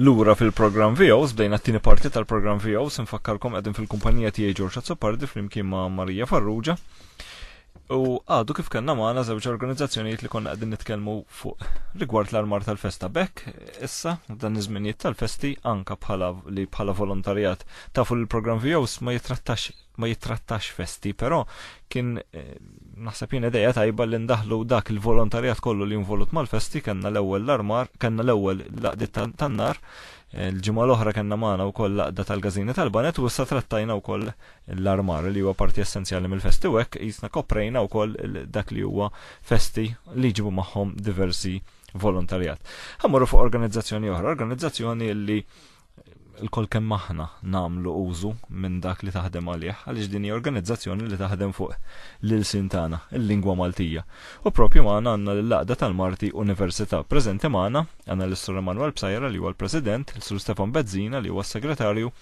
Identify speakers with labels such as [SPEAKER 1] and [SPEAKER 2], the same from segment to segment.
[SPEAKER 1] Lura fil-programm VOs, bdejna t-tieni parti tal-programm VOs, infakkarkom qegħdin fil-kumpanija tiegħi Ġorġ Azzopardi flimkien ma' Marija Farrugia. U għadu kif kellna magħna żewġ organizzazzjonijiet li konna qegħdin nitkellmu fuq rigward l-armar tal-festa bekk, issa dan iż-żminijiet tal-festi anka bħala li bħala volontarjat tafu li l-programm VOs ma jitrattax ma jittrattax festi, però kien eh, naħseb jien ideja tajba li ndaħlu dak il-volontarjat kollu li involut mal-festi kellna l-ewwel l-armar, kellna l-ewwel laqdi tan-nar, eh, l-ġimgħa l-oħra kellna magħna wkoll laqda tal-gażini tal-banet u issa trattajna wkoll l-armar li huwa parti essenzjali mill-festi u hekk jisna koprejna wkoll dak li huwa festi li ġibu magħhom diversi volontarjat. Ħammorru fuq organizzazzjoni oħra, organizzazzjoni li il-kol kemm aħna namlu użu minn dak li taħdem għalih, għaliex din hija organizzazzjoni li taħdem fuq l-ilsin tagħna, il-lingwa Maltija. U propju magħna għandna l-laqda tal-Marti Università. Preżenti magħna għandna l-Sur Emanuel Psajra li huwa l-President, l-Sur Stefan Bezzina li huwa s-Segretarju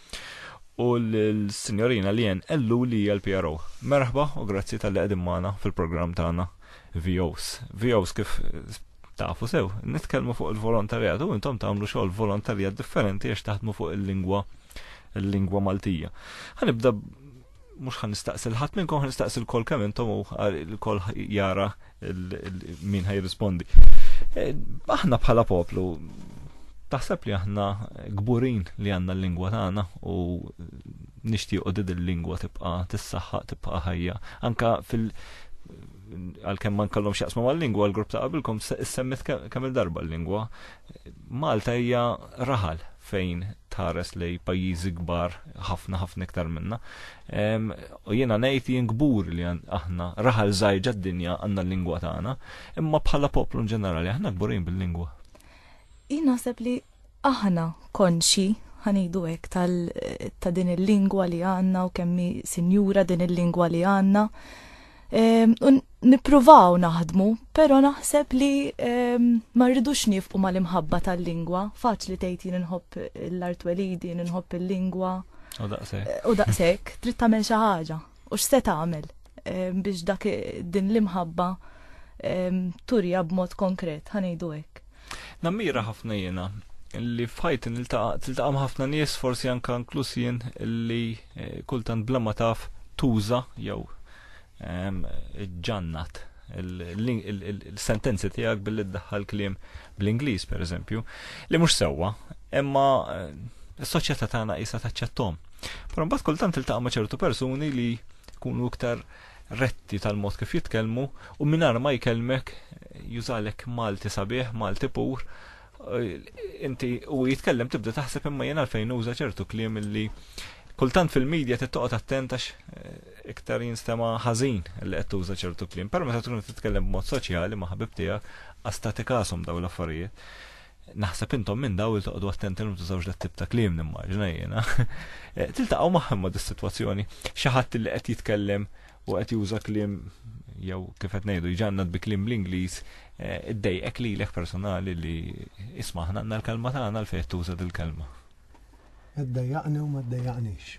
[SPEAKER 1] u l-Sinjorina Lien Ellu li hija l-PRO. Merħba u grazzi tal-li qegħdin magħna fil-programm tagħna. VOs. VOs kif tafu sew, nitkellmu fuq il-volontarjat u intom tagħmlu xogħol volontarjat differenti għax taħdmu fuq il-lingwa il-lingwa Maltija. Ħanibda mhux ħan nistaqsil ħadd minnkom ħan nistaqsil kol kemm intom u kol jara min ħaj rispondi. E, aħna bħala poplu taħseb li aħna gburin li għandna l-lingwa tagħna u nixtiequ din il-lingwa tibqa' tissaħħaq tibqa' ħajja. Anka fil- għal-kem man kallom xaqsmu mal-lingwa, l-grupp ta' qabilkom semmit kemm il-darba l-lingwa. Malta hija raħal fejn tħares li pajjiżi kbar ħafna ħafna iktar minna. U jiena ngħid jien kbur li aħna raħal żgħir d-dinja għandna l-lingwa tagħna, imma bħala poplu ġenerali aħna kburin bil-lingwa. Jien
[SPEAKER 2] naħseb li Aħna konxji, ħa ngħidu hekk, ta' din il-lingwa li għandna u kemm hi sinjura din il-lingwa li għandna. Ehm, u nippruvaw naħdmu, però naħseb li ehm, ma rridux nifqu mal-imħabba tal-lingwa. Faċli tgħid jien inħobb l-artwelidi, inħobb il-lingwa. U daqshekk. U daqshekk, trid tagħmel xi ħaġa. U x'se tagħmel ehm, biex dak din l-imħabba ehm, turja b'mod konkret, ħanejdu hekk. Nammira ħafna
[SPEAKER 1] jiena li fħajt tiltaqam ħafna nies forsi anka inkluż jien li eh, kultant bla ma taf tuża jew ehm, ġannat il-sentenzi tiegħek billi ddaħħal kliem bl-Ingliż pereżempju, li mhux sewwa, imma eh, s-soċjetà tagħna qisha taċċettom. Però mbagħad kultant iltaqa' ma' ċertu persuni li jkunu iktar retti tal-mod kif jitkellmu u minar ma jkellmek jużalek Malti sabiħ, Malti pur, eh, inti u jitkellem tibda taħseb imma jena fejn uża ċertu kliem li kultant fil-medja tittoqgħod attentax eh, iktar jinstema ħażin li qed tuża ċertu kliem, però meta tkun titkellem b'mod soċjali ma' ħabib tiegħek, astati kasom daw l-affarijiet. Naħseb intom minn daw il toqgħodu attenti li tużawx dat tip ta' kliem nimmaġina jiena. Eh, tiltaqgħu magħhom ma' dis-sitwazzjoni, xi ħadd li qed jitkellem u qed juża kliem jew kif qed ngħidu jġannad bi kliem bl-Ingliż eh, iddejqek lilek personali li isma' ħna l-kelma tagħna l fejn tuża dil-kelma.
[SPEAKER 3] Iddejjaqni u ma ddejjaqnix.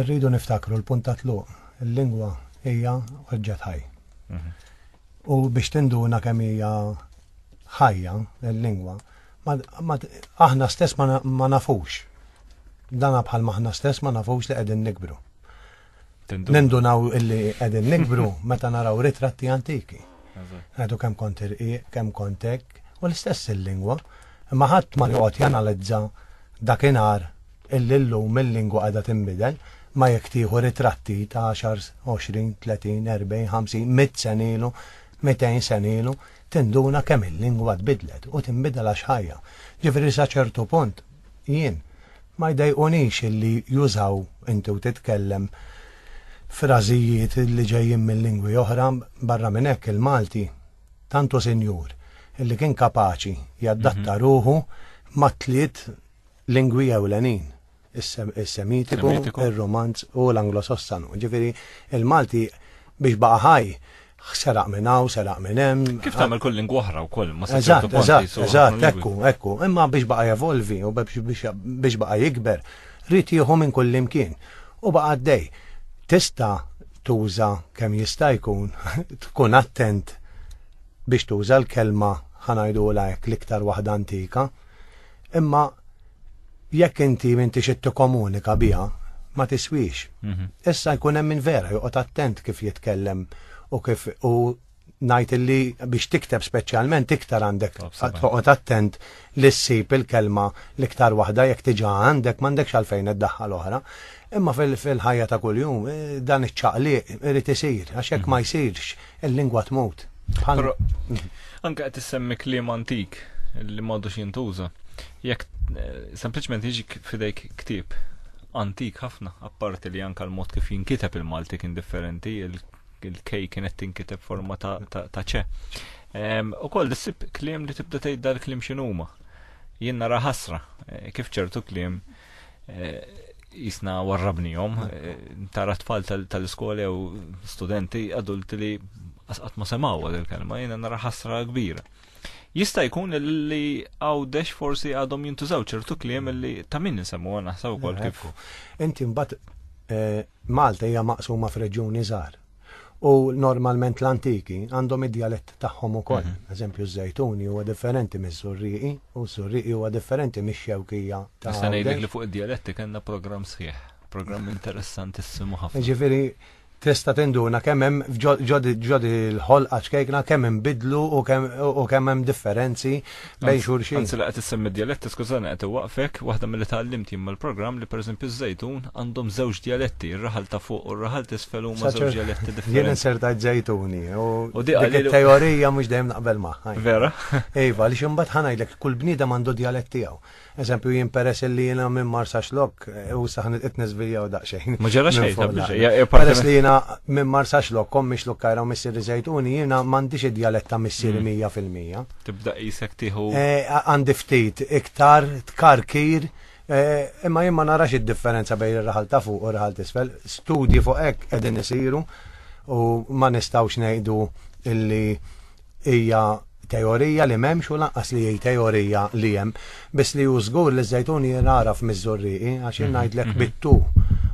[SPEAKER 3] Rridu niftakru l-punt ta' tluq, il-lingwa hija oġġett ħaj. Mhm. U biex tinduna kemm hija ħajja l-lingwa, aħna stess ma nafux. Dana bħal maħna stess ma nafux li qegħdin nikbru. Nindunaw illi qegħdin nikbru meta naraw ritratti antiki. Għadu kemm kont irqiq, kemm kontek, u l-istess il-lingwa, imma ħadd ma joqgħod janalizza dakinhar illi llum il-lingwa qiegħda tinbidel ma jekk tieħu ritratti ta' 10, 20, 30, 40, 50, 100 senilu, 200 senilu, tinduna kemm il-lingwa tbidlet u tinbidel għax ħajja. Ġifieri sa ċertu punt jien. Ma jdejqunix illi jużaw inti u titkellem frażijiet li ġejjin minn lingwi oħra, barra minn hekk il-Malti tant hu sinjur illi kien kapaċi jaddatta ruħu ma' tliet lingwi ewlenin, is-Semitiku, ir-Rumanz u l-Anglosossanu. Ġifieri l-Malti biex baqa' ħaj Seraq minn hawn, seraq minn hemm. Kif tagħmel kull lingwa oħra
[SPEAKER 1] wkoll ma Eżatt, eżatt, eżatt,
[SPEAKER 3] ekku, ekku. Imma biex baqa' jevolvi u biex baqa' jikber, rrid jieħu minn kull imkien. U baqa' għaddej. Tista' tuża kemm jista' jkun, tkun attent biex tuża l-kelma ħanajdu hekk l-iktar waħda antika, imma Jekk inti m'intix qed tikkomunika biha, ma tiswix. Mhm. Issa jkun hemm min vera joqgħod attent kif jitkellem u kif u ngħid illi biex tikteb speċjalment iktar għandek toqgħod attent li ssib il-kelma l-iktar waħda jekk tiġa għandek m'għandekx għalfejn iddaħħal oħra. Imma fil-ħajja ta' kuljum eh, dan iċ-ċaqliq irid isir għax jekk ma mhm. jsirx Il-lingwa tmut. Però
[SPEAKER 1] anke qed issemmi kliem antik li m'għadux jintuża. Jekk eh, sempliċement jiġi fidejk ktieb antik ħafna, apparti li anke l-mod kif jinkiteb il-Malti kien differenti, il-kej kienet tinkiteb forma ta' ċe. U koll dissib kliem li tibda tgħid dal-kliem x'inhuma. Jien nara ħasra eh, kif ċertu kliem jisna eh, warrabnijom, eh, tara tfal tal-iskola jew studenti adulti li asqat ma semaw għad il-kelma, jena nara ħasra kbira. Jista' jkun li għawdex forsi għadhom jintużaw ċertu kliem li ta' min nisemmu naħseb ukoll kif. Inti mbagħad
[SPEAKER 3] eh, Malta hija maqsuma f'reġjuni żgħar. u normalment l-antiki għandhom id-dialett tagħhom ukoll. Mm -hmm. Eżempju, żejtuni huwa differenti mis-surriqi u surriqi huwa differenti mix-xewkija ta' Issa ngħidlek li fuq id-dialetti
[SPEAKER 1] kellna programm sħiħ, programm interessantissimu ħafna. Ġifieri
[SPEAKER 3] tista' tinduna kemm hemm ġodi l-ħolqa ċkejkna kemm hemm bidlu u kemm hemm differenzi bejn xulxin. Anzi li qed issemmi dialetti,
[SPEAKER 1] skużani qed iwaqfek, waħda milli tgħallimt jien mal-programm li pereżempju ż-żejtun għandhom żewġ dialetti, ir-raħal ta' fuq u r-raħal t'isfel huma żewġ dialetti differenti. Jien insertajt żejtuni
[SPEAKER 3] u dik it-teorija mhux dejjem naqbel magħha. Vera? Iva,
[SPEAKER 1] li xi mbagħad
[SPEAKER 3] ħanajdlek kull bniedem għandu dialett tiegħu. Eżempju jien peress li jiena minn Marsaxlok eh, u saħan qed niżviljaw daqsxejn. Ma ġara xejn eh,
[SPEAKER 1] Peress li jiena
[SPEAKER 3] minn Marsaxlok kom miex lukkajra u missieri żejtuni jiena m'għandix id-djalett ta' missieri mm. mija fil-mija. Tibda qisek
[SPEAKER 1] tieħu. Eh, għandi ftit
[SPEAKER 3] iktar tkarkir imma jien ma narax id-differenza bejn ir-raħal ta' fuq u r-raħal t'isfel. Studji fuq hekk qegħdin isiru u ma nistgħux ngħidu illi hija teorija li m'hemmx u lanqas li hi teorija li hemm, biss li hu żgur li żejtun jingħaraf miż-żurrieqi għax jien mhm, ngħidlek mhm. bittu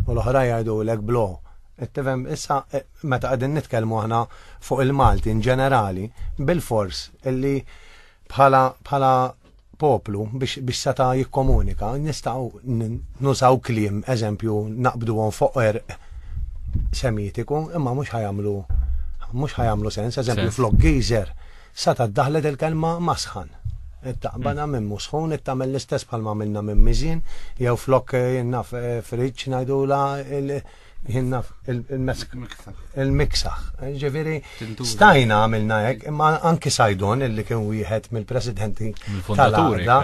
[SPEAKER 3] u l-oħra jgħidulek blo. Tifhem issa e, meta qegħdin nitkellmu aħna fuq il-Malti in ġenerali bil-fors illi bħala bħala poplu biex, biex seta jikkomunika, nistaw nużaw klim, eżempju, naqbdu għon fuq erq semitiku, imma mux ħajamlu, mux ħajamlu sens, eżempju, flok gejzer, seta daħlet il-kelma masħan. Taqbana minn musħun, it-tamel l-istess bħalma minna minn mizin, jew flok eh, naf eh, friċ najdula Jinna il-miksaħ. Ġifiri, stajna għamilna hekk, imma anki Sajdon illi kien wieħed mill-presidenti tal-għada.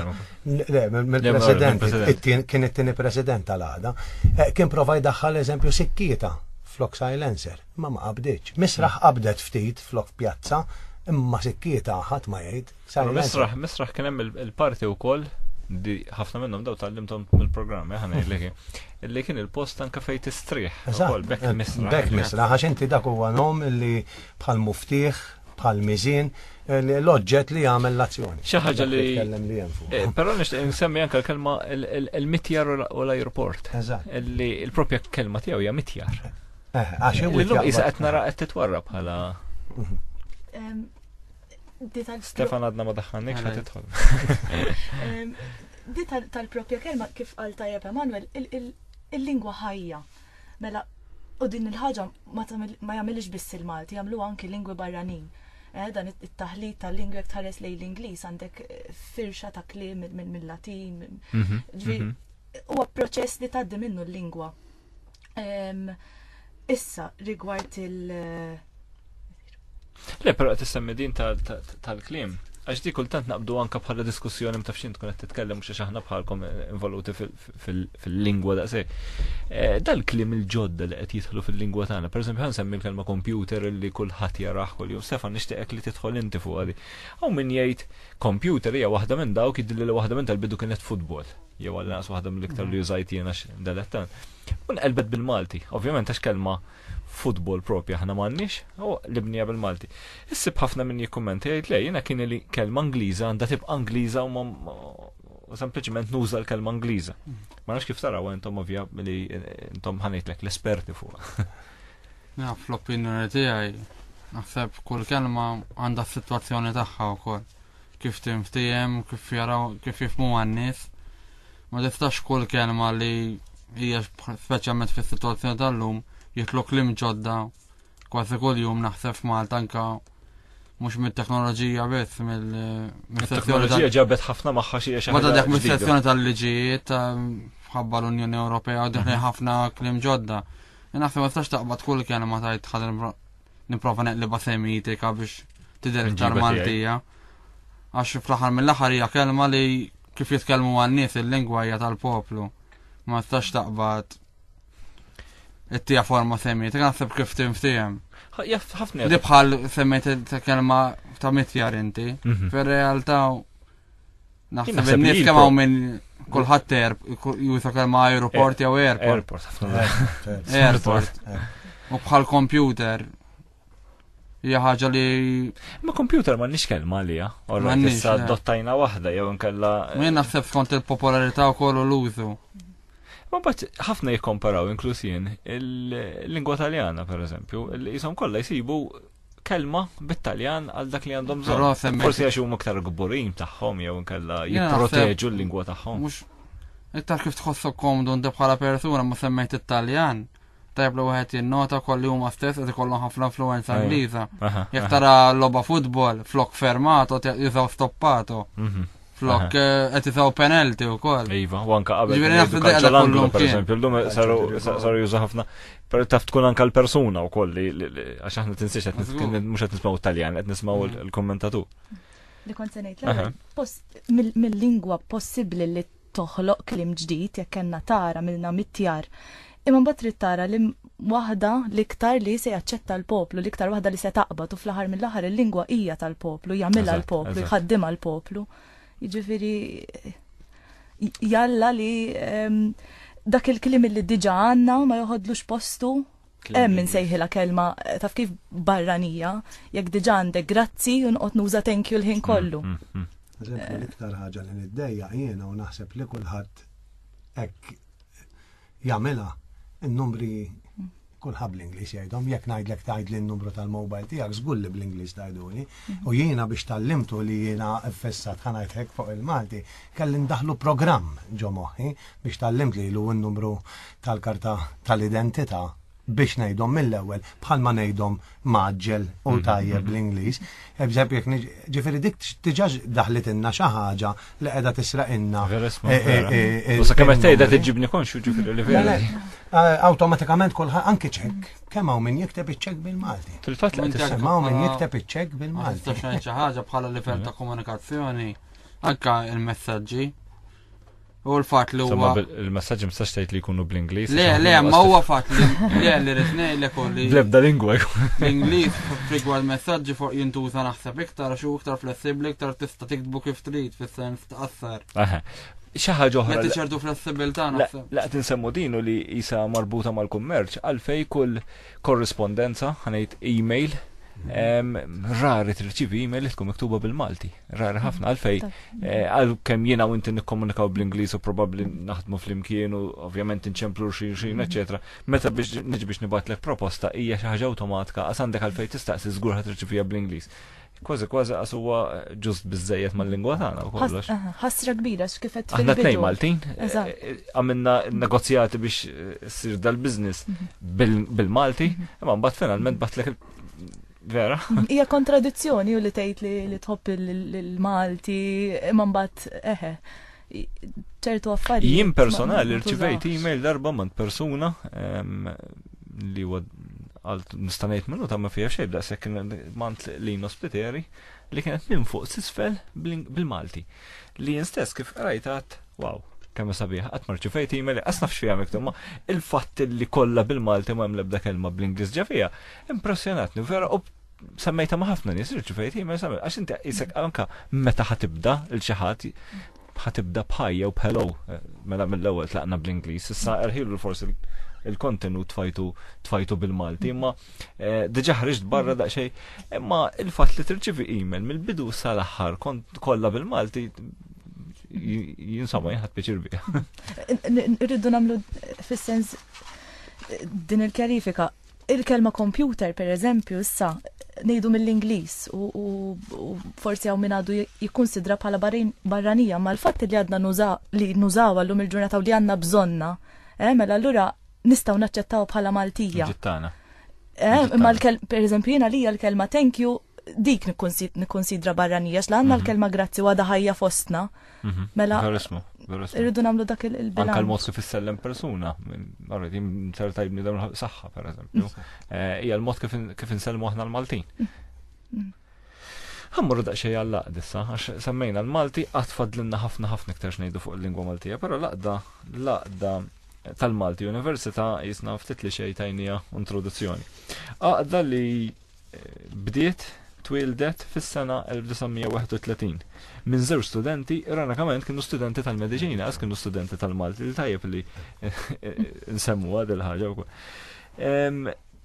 [SPEAKER 3] Mill-president, kien it-tieni president tal-għada. Eh, kien provaj daħħal eżempju sikkieta flok silencer, ma ma qabdiċ. Misraħ qabdet ftit flok pjazza, imma sikkieta ħadd ma jgħid. Misraħ, misraħ kien
[SPEAKER 1] hemm il-parti wkoll di ħafna minnhom daw tal-limtom mill-programm, eh, ħana li illi kien il-post anka fejn tistrieħ. Ukoll bekk eh, misraħ. Bekk misraħ għax inti
[SPEAKER 3] dak huwa nom illi bħal muftiħ, bħal miżin, eh, l-oġġett li jagħmel l-azzjoni. Xi ħaġa li tkellem
[SPEAKER 1] li hemm fuq. Però nixtieq insemmi anke l-kelma il-mitjar u l-ajruport. Eżatt. Illi l-propja kelma tiegħu hija mitjar. Għax hemm.
[SPEAKER 3] Illum qisha qed nara
[SPEAKER 1] qed titwarra bħala mhm. Stefan għadna ma daħħannik xa titħol. Di
[SPEAKER 2] tal-propja kelma kif għal tajab Emanuel, il-lingwa ħajja. Mela, u din il-ħagġa ma jagħmilx biss il-Malti, jagħmlu anki lingwi barranin. Eh, dan it-taħlit tal-lingwi jekk tħares lejn l-Ingliż għandek eh, firxa ta' kliem mill-Latin. Mhm, mhm. Huwa proċess li tgħaddi minnu l-lingwa Issa, rigward il-
[SPEAKER 1] Le, pero għat semmi din tal-klim. Għax di kultant naqbdu anka bħala diskussjoni mtaf xint kunet titkellem mux aħna bħalkom eh, involuti fil-lingwa da' se. Eh, dal-klim il-ġodda li qed jidħlu fil-lingwa tagħna, per esempio ħan semmi l-kelma computer li kulħadd jaraħ kull jum sefa nixtieqek li tidħol inti fuq għadi. Hawn min jgħid computer hija waħda minn dawk jidilli li waħda minn tal-bidu kienet futbol. jew għal naqs waħda mill-iktar li użajt jiena dalettan. Un elbet bil-Malti, ovvjament għax kelma futbol propja ħna m'għandniex, u libnija bil-Malti. Issib ħafna minn jikkumenti jgħid le jiena kien li kelma Ingliża għandha tibqa' Ingliża u u sempliċement nuża l-kelma Ingliża. Ma nafx kif taraw intom ovvja li intom ħanejtlek l-esperti fuq. Ja,
[SPEAKER 4] fl-opinjoni tiegħi naħseb kull kelma għandha s-sitwazzjoni tagħha wkoll. Kif tinftiehem, kif jaraw, kif jifmu għan-nies. Ma tistax kull kelma li hija speċjalment fis-sitwazzjoni tal-lum jitlu klim ġodda kważi kull jum naħseb Malta anka mux mit-teknoloġija biss mill teknoloġija
[SPEAKER 1] ġabet ħafna maħħa xie xaħġa. Mada dak mis-sezzjoni
[SPEAKER 4] tal-liġijiet ħabba l-Unjoni Ewropea u diħli mhm. ħafna klim ġodda. Naħseb ma tistax taqbad kull kelma tajt ħadem Niprofa neqliba semitika biex tidher iktar Maltija. Għax fl-aħħar mill-aħħar hija kelma li kif jitkellmu għan-nies il-lingwa hija tal-poplu. Ma tistax taqbad it-tija forma semmiet, naħseb kif tim tijem. Ħafna.
[SPEAKER 1] Li bħal
[SPEAKER 4] semmiet ta' kelma ta' mitjar inti. Mhm. Fir-realtà Naħseb nif kemm hawn minn kulħadd erb, jusa kemm aeroport jew airport. Airport, airport. U bħal computer. Hija ħaġa li. Ma computer
[SPEAKER 1] ma nix kelma li ja. Orra issa dottajna waħda jew nkella. Min naħseb skont
[SPEAKER 4] il-popolarità u kollu l-użu. Ma bat
[SPEAKER 1] ħafna jikkomparaw inkluż jien il-lingwa taljana pereżempju, li jisom kollha jsibu kelma bit-Taljan għal dak li għandhom bżonn. Forsi għax huma aktar gburin tagħhom jew inkella jipproteġu l-lingwa tagħhom. Mhux
[SPEAKER 4] iktar kif tħossok komdu inti bħala persuna ma semmejt it-Taljan. Tajb li wieħed jinnota kolli huma stess qed ikollhom ħafna influenza Ingliża. Jekk tara logħba futbol flok fermato jużaw stoppato. Mhm. Flok, eh, qed itgħu penalti wkoll. Iva, u anka qabel. Ġifieri
[SPEAKER 1] naħseb li qiegħda kollu per eżempju, llum saru juża ħafna. Per taf tkun anka l-persuna wkoll li għax aħna tinsiex qed mhux qed nismgħu Taljan, qed nismgħu mm. l-kommentatu. Li kont
[SPEAKER 2] se ngħid mill-lingwa possibbli li toħloq klim ġdid jekk kellna tara milna mittjar Imma mbagħad trid tara li waħda l-iktar li se jaċċetta l-poplu, l-iktar waħda li se taqbad u fl-aħħar mill-aħħar il-lingwa hija tal-poplu, jagħmilha l-poplu, jħaddimha l-poplu. Jiġifieri jalla li ehm, dak il-klim li diġa għandna ma joħodlux postu hemm min sejħilha kelma eh, taf kif barranija, jekk diġa għandek grazzi u nqgħod nuża thank you l-ħin mm, kollu. Mm, mm. Eżempju
[SPEAKER 3] l-iktar ħaġa li niddejja jiena u naħseb li kulħadd hekk jagħmilha n-numri kulħadd bl-Ingliż jgħidhom, jekk ngħidlek tgħidli n-numru tal-mobile tiegħek żgur li bl-Ingliż tgħiduli. U jiena biex tallimtu li jiena fissat ħanajtek fuq il-Malti, kelli ndaħlu programm ġo moħħi biex tallimt li l-numru tal-karta tal-identità biex ngħidhom mill-ewwel bħalma ngħidhom maġġel u mhm, tajjeb mhm. bl-Ingliż. Eżempju jekk ġifieri dik diġà daħlet inna xi ħaġa li qiegħda tisraq inna. Eh, eh, eh,
[SPEAKER 1] u sa kemm tgħidha tiġibni konxu ġifieri li vera. Awtomatikament
[SPEAKER 3] kulħadd anke ċekk, kemm hawn min jikteb iċ-ċekk bil-Malti. Fil-fatt li tisem hawn
[SPEAKER 1] min jikteb
[SPEAKER 3] iċ-ċekk bil-Malti. Xi ħaġa bħala
[SPEAKER 4] livell ta' komunikazzjoni anke il-messaġġi U l-fat li huwa. Il-messagġi mistax tgħid
[SPEAKER 1] li jkunu bl-Ingliż. Le, le, ma huwa fat
[SPEAKER 4] li le li rid ngħidlek u li. Blebda lingwa.
[SPEAKER 1] L-Ingliż
[SPEAKER 4] rigward messaġġi fuq jintuża naħseb iktar xu iktar flessibbli iktar tista' tiktbu kif trid fis-sens tqassar. Xi
[SPEAKER 1] ħaġa oħra. Qed ċertu flessibilità
[SPEAKER 4] naħseb. La qed insemmu din li
[SPEAKER 1] isa marbuta mal-kummerċ għalfej kull korrispondenza ħanejt email mhm. rari tirċivi email li tkun miktuba bil-Malti. Rari ħafna għalfej, eh, għal kem jina u inti nikkomunikaw bl-Inglis u probabli naħdmu fl-imkien u ovvjament nċemplu xin xin, eccetera. Mhm. Meta biex nġi biex nibatlek proposta hija xi ħaġa awtomatika għas għandek għalfej tistaqsi żgur ħad tirċivija bl-Inglis. Kważi kważi għas huwa ġust biżejjed mal-lingwa tagħna u kollox. Ħasra kbira
[SPEAKER 2] x'kif qed Aħna tnejn Maltin eh,
[SPEAKER 1] eh, għamilna negozjati biex ssir dal-biżniss mhm. bil-Malti, mhm. imma mbagħad finalment batlek Vera. Hija
[SPEAKER 2] kontradizzjoni u li tgħid li, li tħobb il-Malti imma mbagħad eħe ċertu affarijiet. Jien personali
[SPEAKER 1] rċivejt email darba minn persuna li huwa għal nistanejt minnu ta' ma fija xejn da' sekk mant li nospiteri li kienet minn fuq sisfel bil-Malti. Li jien stess kif qrajt għad, wow, kemm sabiħ, qatt ma rċifejt email, qas naf x'fiha miktub, ma il-fatt li kollha bil-Malti ma hemm l-ebda kelma bl-Ingliż ġa fiha, impressjonatni vera u semmejta ma ħafna nies irċifejt email semmejt għax inti isek anka meta ħatibda il xi ħadd ħatibda bħajja u b'hello eh, mela mill-ewwel tlaqna bl-Ingliż, issa erħilu forsi il-kontenut tfajtu tfajtu bil-Malti, imma Eh, Diġa ħriġt barra daqxej, imma il-fat li tirċivi email mill-bidu sal-axħar kont kolla bil-Malti jinsama jħat pieċir bija. Rridu
[SPEAKER 2] namlu fil-sens din il-kjarifika. Il-kelma computer, per eżempju, issa nejdu mill-Inglis u forsi għaw minn għadu jikonsidra bħala barranija, ma l-fat li għadna li nużaw għallum il-ġurnata u li għanna bżonna, eh, mela l-lura nistgħu naċċettaw bħala Maltija. Ġittana.
[SPEAKER 1] Eh, imma
[SPEAKER 2] per eżempju jiena lija l-kelma thank you dik nikkonsidra barranija, xla għanna mhm. l-kelma grazzi għada ħajja fostna. Mhm. Mela. Verismu, verismu. Irridu namlu dak il-bilanċ. Anka l-mod kif issellem
[SPEAKER 1] persuna, għarri, jim ser tajbni dawn saħħa, per eżempju. Mhm. Eh, Ija l-mod kif insellmu aħna l-Maltin. Ħammorru daqsxejn għall-laqd issa, għax semmejna l-Malti qatt fadlinna ħafna ħafna iktar xnejdu fuq il-lingwa Maltija, però laqda laqda tal-Malti Università jisna ftit li xejn tajnija introduzzjoni. Għaqda li eh, bdiet twildet fis-sena 1931 minn żewġ studenti, ironikament kienu studenti tal-mediċina, għas kienu studenti tal-Malti, li tajjeb li eh, eh, nsemmu għad il-ħagġa u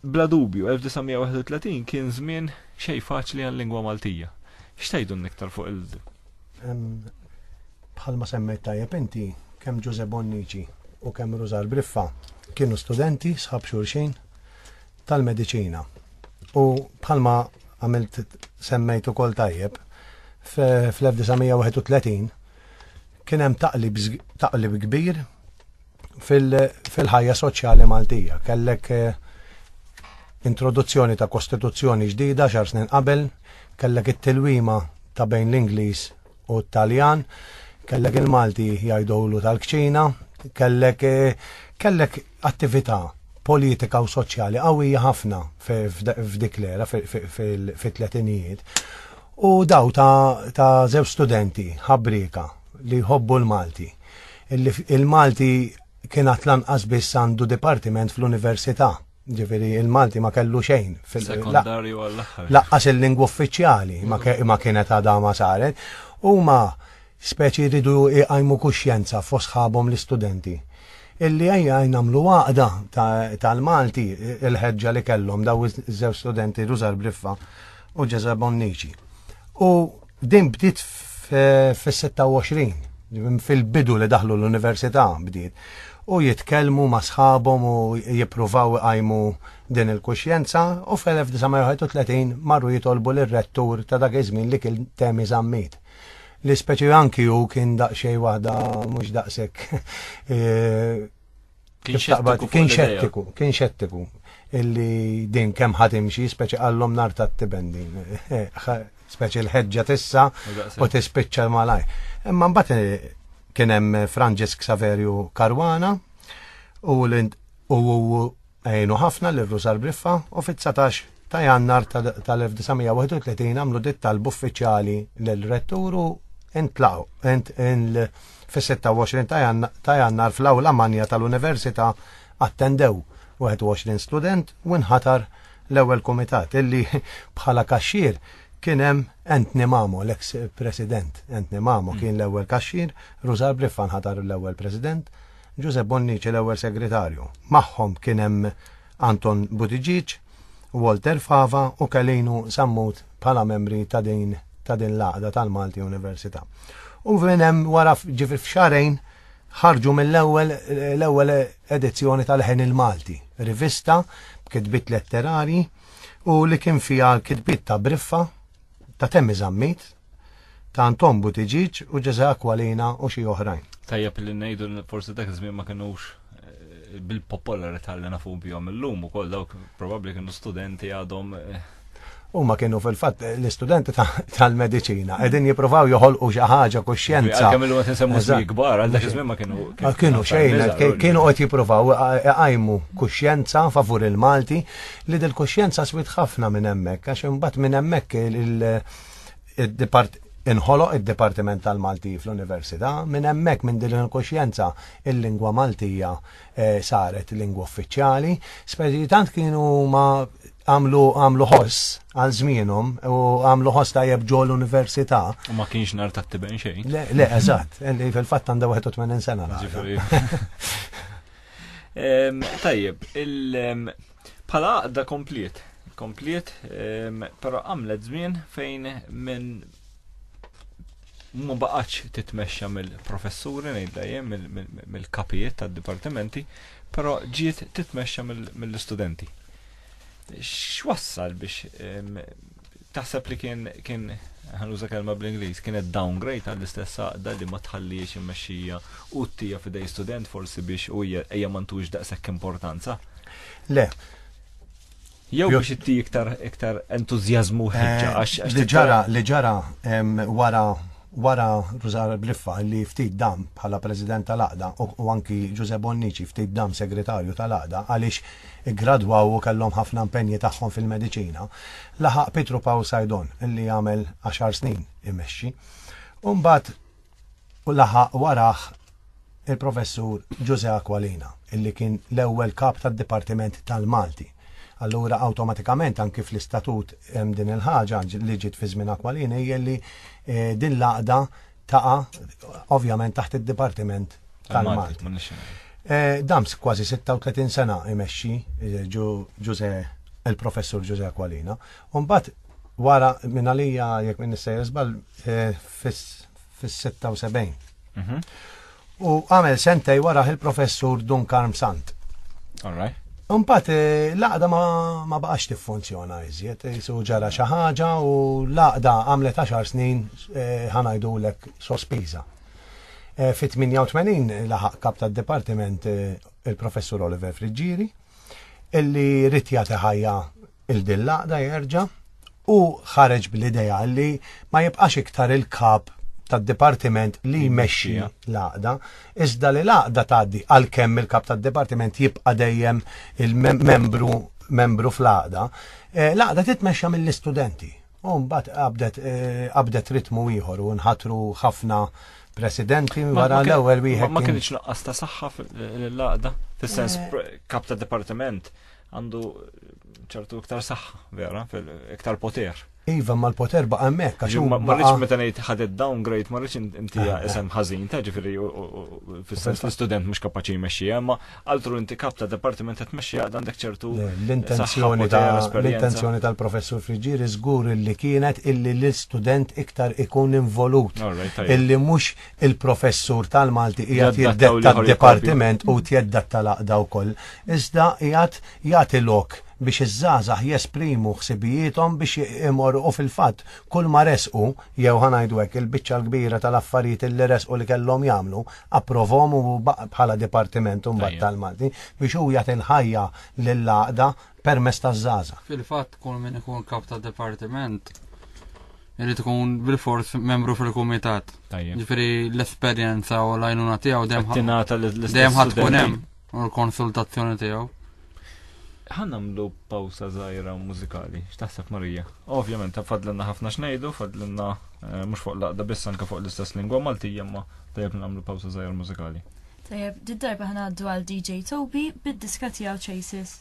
[SPEAKER 1] Bla dubju, 1931 kien żmien xejn faċli għal-lingwa Maltija. X'tgħidulna iktar fuq il
[SPEAKER 3] Bħalma semmejt tajjeb inti, kemm Ġużè Bonnici u kemm Rużar Briffa kienu studenti sħab xulxin tal-mediċina. U bħalma għamilt semmejt ukoll tajjeb, fl-1931 kien hemm taqlib kbir fil-ħajja soċjali Maltija. Kellek eh, introduzzjoni ta' kostituzzjoni ġdida xar snin qabel, kellek it-tilwima ta' bejn l-Ingliż u t-Taljan, kellek il-Malti jgħidulu tal-kċina, kellek eh, kellek attività politika u soċjali qawwija ħafna f'dik l-era fit-tletinijiet. U daw ta' żew studenti ħabrika li jħobbu l-Malti Il-Malti kien għat lanqas biss għandu dipartiment fl-università. Ġifiri, il-Malti ma kellu xejn. Sekundarju għall-axħar.
[SPEAKER 1] Laqqas il-lingwa
[SPEAKER 3] uffiċjali ma kienet għadha ma saret. U ma speċi ridu iqajmu kuxjenza fosħabom l-istudenti. Illi għajja għajnamlu għaqda tal-Malti il-ħedġa li kellhom daw iż-żew studenti Ruzar Briffa u Ġezabon Niċi. U Din bdiet fis-26 fil-bidu li daħlu l-università bdiet u jitkellmu ma' sħabhom u jippruvaw iqajmu din il-kuxjenza u fl-1931 marru jitolbu lir rettur ta' dak iż-żmien li kien temi żammit. Li speċi anki hu kien daqsxejn waħda mhux daqshekk eh, Kien xettiku. Kien xettiku, kien xettiku. Illi din kemm ħatimxi, speċi għallom nar ta' tibendi. Speċi l-ħedġa tissa u tispiċċa malaj. Imma mbagħad eh, kien hemm Franġisk Saverju Karwana u għajnu ħafna l-Rusar Briffa u fit-19 ta' jannar tal-1931 għamlu dit talb uffiċjali l-retturu intlaw fis-26 ta' jannar fl-awla manja tal-Università attendew 21 student u nħatar l-ewwel kumitat illi bħala kaxxir kien hemm Anthony Mamo, l-eks president. Anthony Mamo kien mm. l-ewwel kaxxir, Rużar Briffa nħatar l-ewwel president, Giuseppe Bonnici l-ewwel segretarju. Magħhom kien hemm Anton Buttigieg, Walter Fava u Kalinu Sammut bħala membri ta' din ta' din l-għaqda tal-Malti Università. U minn hemm wara ġifi f'xarejn ħarġu mill-ewwel l-ewwel edizzjoni tal-Ħen il-Malti, rivista b'kitbit letterarji u li kien fiha l-kitbit ta' Briffa, ta' Temmi Zammit, ta' Antombu Tiġiġ u Ġeża Aqualina u xi oħrajn. Tajjeb li ngħidu li
[SPEAKER 1] forsi dak iż-żmien ma kinux eh, bil-popolarità li nafu bihom illum ukoll dawk probabbli kienu studenti għadhom eh, huma
[SPEAKER 3] kienu fil-fatt l-istudenti tal-medicina qegħdin jippruvaw joħolqu xi ħaġa kuxjenza. Kemm illum qed insemmu żmien
[SPEAKER 1] kbar għal dak iż-żmien ma kienu. Ah, kienu xejn,
[SPEAKER 3] kienu qed jippruvaw iqajmu kuxjenza favur il-Malti li dil-kuxjenza swit ħafna minn hemmhekk għax imbagħad minn hemmhekk inħoloq id-Dipartiment tal-Malti fl-Università, minn hemmhekk minn din il-kuxjenza il-lingwa Maltija eh, saret lingwa uffiċjali, speċi tant kienu ma għamlu għamlu ħoss għal żmienhom u għamlu ħoss tajjeb ġo l-università. U ma kienx nar
[SPEAKER 1] ta' tiben xejn. Le, le, eżatt,
[SPEAKER 3] li fil-fatt għandha 81 sena.
[SPEAKER 1] Tajjeb, il- Bħala għaqda kompliet, kompliet, ehm, pero għamlet żmien fejn minn ma baqax titmexxa mill-professuri ngħidla jien mill-kapijiet tad-dipartimenti, però ġiet titmexxa mill-istudenti. X'wassal biex ehm, Taħseb li kien, kien, ħa nuża kelma bl-Ingliż, kienet downgrade għall-istess għaqda li ma tħalliex immexxija u ttija f'idej student forsi biex u hija hija ma ntux daqshekk importanza? Le. Jew biex itti iktar iktar entużjażmu ħeġġa eh, għax li ġara li ġara
[SPEAKER 3] wara Wara Rużar Briffa li ftit dam bħala President tal-Għaqda u anki Ġużè Bonnici ftit dam Segretarju tal-Għaqda għaliex iggradwaw u kellhom ħafna impenji tagħhom fil-mediċina, laħaq Pietru Pawl Saidon li għamel għaxar snin imexxi. U mbagħad laħaq warah il-Professur Ġużè Aqualina, illi kien l-ewwel Kap tad-Dipartiment tal-Malti. Allura awtomatikament anki fl-istatut hemm din il-ħaġa li ġiet fi żmien Aqualina hija li eh, din l-għaqda taqa' ovvjament taħt id-Dipartiment tal-Malti. Eh, Dams kważi 36 sena imexxi eh, Ġużè il-Professur Ġużè Aqualina. Umbat wara minn għalija jekk minn nissejjer żball fis-76. Mhm. U għamel sentej wara il-professur Dunkarm Sant. All right.
[SPEAKER 1] Umbat, eh,
[SPEAKER 3] laqda ma baqax tiffunzjona iżjed, eh, su ġara xi ħaġa u laqda għamlet 10 snin eh, ħanajdu lek sospiża. Fit-88 laħaq kap tad-Dipartiment il-Professur Oliver Friggieri, illi rrit jagħti ħajja il din laqda jerġa' u ħareġ bl-idea li ma jibqax iktar il-kap tad-dipartiment li jmexxi l-għaqda, iżda li l-għaqda tgħaddi għalkemm il-kap tad-dipartiment jibqa' dejjem il-membru membru fl-għaqda, eh, l-għaqda titmexxa mill-istudenti. U mbagħad qabdet eh, qabdet ritmu ieħor u nħatru ħafna presidenti wara l-ewwel wieħed. Ma kienx naqqas ta' saħħa
[SPEAKER 1] l-laqda, fis-sens eh. kap ta' dipartiment għandu ċertu iktar saħħa, vera, iktar poter. Iva, ma l-poter
[SPEAKER 3] baqa mek, għax ma rridx meta ngħid
[SPEAKER 1] ħadet downgrade, ma rridx inti eh, isem ħażin, ta' ġifieri fis-sens l-istudent mhux kapaċi jmexxi, ma altru inti kap ta' departiment qed tmexxi għad għandek ċertu l-intenzjoni ta' l-intenzjoni
[SPEAKER 3] tal-professur Friġġieri żgur illi kienet illi l-istudent iktar ikun involut illi mhux il-professur tal-Malti qiegħed jiddetta d-dipartiment u tjedda tal-aqda wkoll. Iżda qiegħed jagħti lok biex iż-żgħażagħ jesprimu ħsibijiethom biex imorru u fil-fatt kull ma resqu jew ħanajdu hekk il-biċċa l-kbira tal-affarijiet li resqu li kellhom jagħmlu approvhom u bħala dipartiment mbagħad tal-Malti biex hu jagħti l-ħajja lill-għaqda permess taż-żaża. Fil-fatt kull min
[SPEAKER 4] ikun kap ta' dipartiment irid ikun bil-fors membru fil-kumitat. Ġifieri l-esperjenza u l-għajnuna tiegħu dejjem ħadd tkun hemm. U l-konsultazzjoni tiegħu.
[SPEAKER 1] Ħanamlu pawsa żgħira mużikali, x'taħseb Marija? Ovvjament, fadlinna ħafna xnejdu, fadlinna eh, mhux fuq laqda biss anke fuq l-istess lingwa Maltija, ma tajjeb nagħmlu pawsa żgħira mużikali. Tajjeb, did-darba
[SPEAKER 2] ħanaddu għal DJ Toby bid-diska tiegħu Chases.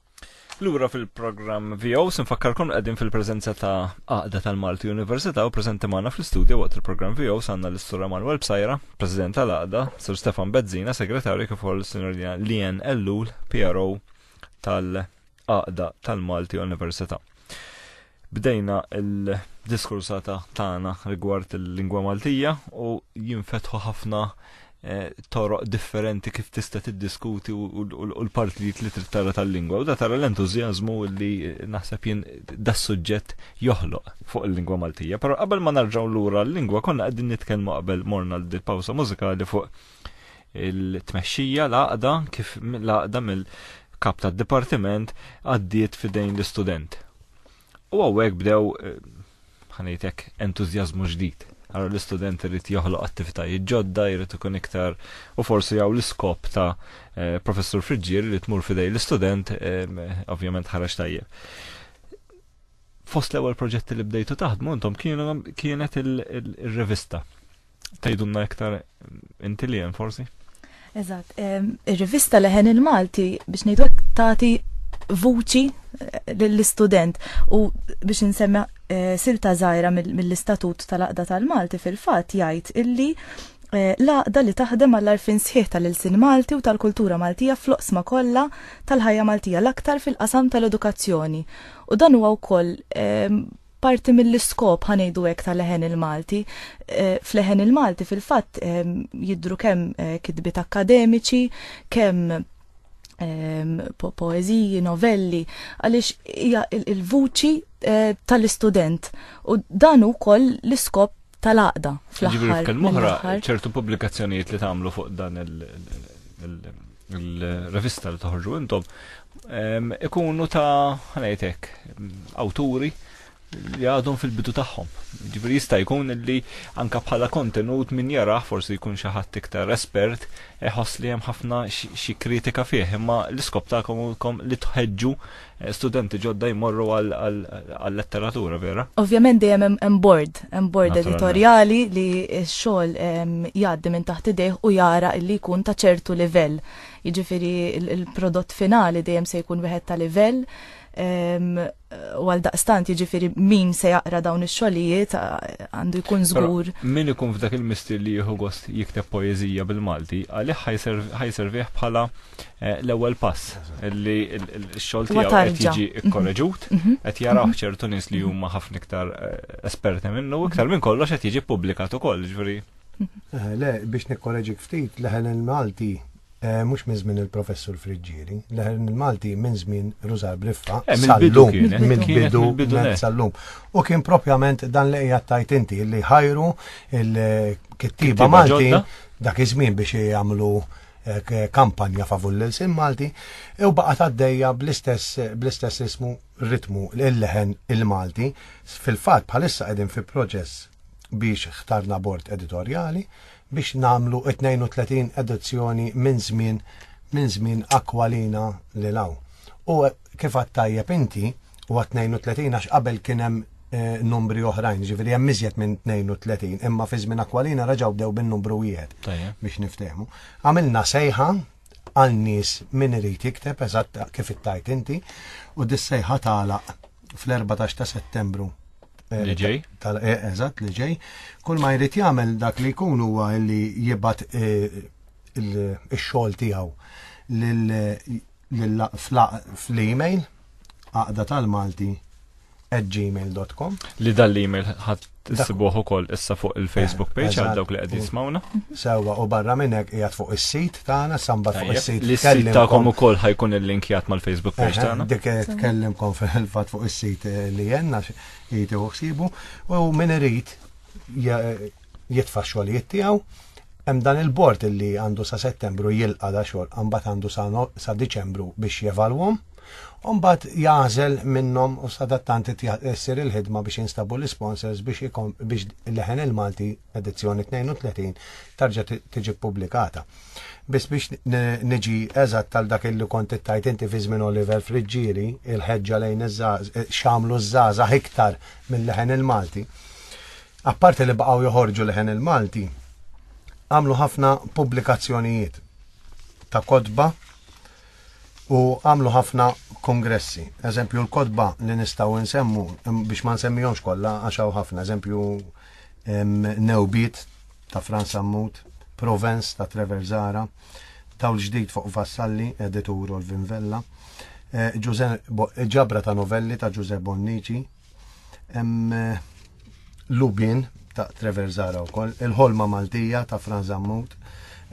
[SPEAKER 1] Lura fil-programm VO, sinfakkarkom qegħdin fil-preżenza ta' Aqda tal-Malti Università u preżenti magħna fl-istudju waqt il-programm VO sanna l-Istura Manuel Bsajra, President tal-Aqda, Sir Stefan Bezzina, Segretarju kif ukoll Sinjorina Lien Ellul, PRO tal-Aqda tal-Malti Università. Bdejna il-diskursata tagħna rigward il-lingwa Maltija u jinfetħu ħafna eh, toroq differenti kif tista' tiddiskuti u l-partijiet li trid tara tal-lingwa. U da tara l-entużjażmu li naħseb jien da suġġett joħloq fuq il-lingwa Maltija. Però qabel ma narġgħu lura l-lingwa konna qegħdin nitkellmu qabel morna l-pawsa mużikali fuq Il-tmexxija l-għaqda kif l-għaqda mill-kap tad-dipartiment għaddiet fidejn l-istudent. U għawek bdew eh, ħanejtek entużjażmu ġdid. Għara l-istudent irid joħloq attivitajiet ġodda, jrid ikun iktar u forsi għaw l-iskop ta' eh, professur Friġġier li tmur fidej l-istudent, eh, ovvjament ħaraġ tajjeb fost l-ewwel proġetti li bdejtu taħdmu intom kienet il-revista. Tgħidulna iktar inti li hemm forsi? Eżatt,
[SPEAKER 2] ir-rivista leħen il-Malti biex ngħidu tagħti vuċi eh, lill-istudent u biex insemmi eh, silta żgħira mill-istatut tal-aqda tal-Malti fil-fatt jgħid illi eh, laqda li taħdem għall arfin sħiħ tal-ilsin Malti u tal-kultura Maltija fl-oqsma kollha tal-ħajja Maltija l-aktar fil-qasam tal-edukazzjoni. U dan huwa wkoll Parti mill-iskop, ħa ngħidu hekk, ta' leħen il-Malti. Eh, f'leħen il-Malti fil-fatt ehm, jidru kemm eh, kitbiet akkademiċi, kemm ehm, poeziji, novelli, għaliex hija il-vuċi eh, tal-istudent. U dan ukoll l-iskop tal-għaqda fl-aħħar. Ġifieri f'kelm oħra ċertu
[SPEAKER 1] pubblikazzjonijiet li tagħmlu fuq dan il- il-revista li toħorġu intom ikunu ta' ħanajtek awturi li għadhom fil-bidu tagħhom. Ġifieri jista' jkun li anka bħala kontenut min jara forsi jkun xi ħadd iktar espert iħoss li hemm ħafna xi kritika fih, imma l-iskop tagħkom li tħeġġu studenti ġodda jmorru għal-letteratura, vera? Ovvjament dejjem hemm
[SPEAKER 2] bord, hemm bord editorjali li x-xogħol jgħaddi minn taħt idejh u jara li jkun ta' ċertu livell. Jiġifieri il-prodott finali dejjem se jkun wieħed ta' livell u għal daqstant jiġifieri min se jaqra dawn ix-xogħlijiet għandu jkun żgur. Min ikun f'dak
[SPEAKER 1] il-mistier li jieħu gost jikteb poeżija bil-Malti, għalih ħajservih bħala Eh, l-ewwel pass li x-xogħol tiegħu qed jiġi mhm. kkorreġut, mhm. qed jaraw mhm. ċertu nies li huma ħafna iktar eh, esperti minnu, iktar minn kollox qed jiġi ppubblikat ukoll, ġifieri. Eh, le,
[SPEAKER 3] biex nikkoreġik ftit, leħen il-Malti mux minn żmien il-professur Friġġieri, leħen il-Malti minn żmien Rużar Briffa, sallum, minn bidu sallum. U kien propjament dan li hija tajt inti li ħajru il-kittiba Malti dak iż-żmien biex jagħmlu eh, kampanja favur l-ilsien Malti u baqgħet għaddejja bl-istess ismu ritmu l-leħen il-Malti fil-fatt bħalissa qegħdin fi proċess biex ħtarna bord editorjali biex namlu 32 edizzjoni minn żmien minn żmien akwalina li law. U kif għattajjeb inti, u għat 32 għax qabel kien hemm eh, numri oħrajn, ġifieri hemm iżjed minn 32, imma fi żmien akwalina raġgħu bdew bin-numru wieħed biex niftehmu. Għamilna sejħa għal nies min irid jikteb eżatt kif ittajt inti u dis-sejħa tagħlaq fl-14 ta' Settembru eh, li ġej.
[SPEAKER 1] Eh, eżatt li
[SPEAKER 3] ġej. Kull ma jrid jagħmel dak li jkun huwa li jibgħat il-xogħol tiegħu fl-email għaqda tal-Malti at gmail.com. Li dan l-email
[SPEAKER 1] ħadd tissibuh ukoll issa fuq il-Facebook eh, page għal dawk li qed jismawna. Sewwa u barra
[SPEAKER 3] minn hekk qiegħed fuq is-sit tagħna samba fuq is-sit. Li sit tagħkom ukoll
[SPEAKER 1] ħajkun il-linkjat mal-Facebook page eh, tagħna. Dik tkellimkom
[SPEAKER 3] fil-fatt fuq is-sit eh, li jenna jitu ħsibu u min irid jitfa' xogħlijiet tiegħu. Hemm dan il-bord li għandu sa Settembru jilqa' da xogħol, imbagħad għandu sa Diċembru biex jevalwhom. Imbagħad jagħżel minnhom u sadattant issir il-ħidma biex jinstabu l-isponsors biex biex leħen il-Malti edizzjoni 32 tarġa' tiġi ppubblikata. Biss biex niġi eżatt tal dak li kont ittajt inti fi żmien Oliver Friġġieri, il-ħeġġa lejn iż-żgħaż, xamlu ż-żgħażagħ iktar mill-leħen il-Malti. apparti li baqgħu joħorġu leħen il-Malti, għamlu ħafna pubblikazzjonijiet ta' kotba u għamlu ħafna kongressi. Eżempju, l-kotba li nistaw nsemmu biex ma nsemmihomx kollha għax hawn ħafna, eżempju Newbit ta' Franz Ammut, Provence ta' Trevor Zara, Tawl ġdid fuq Vassalli, editur Olvin Vella, eh, ġabra ta' novelli ta' Ġuże Bonnici, Hemm eh, Lubin ta' Trevor Zara wkoll, il-ħolma Maltija ta' Fran Zammut.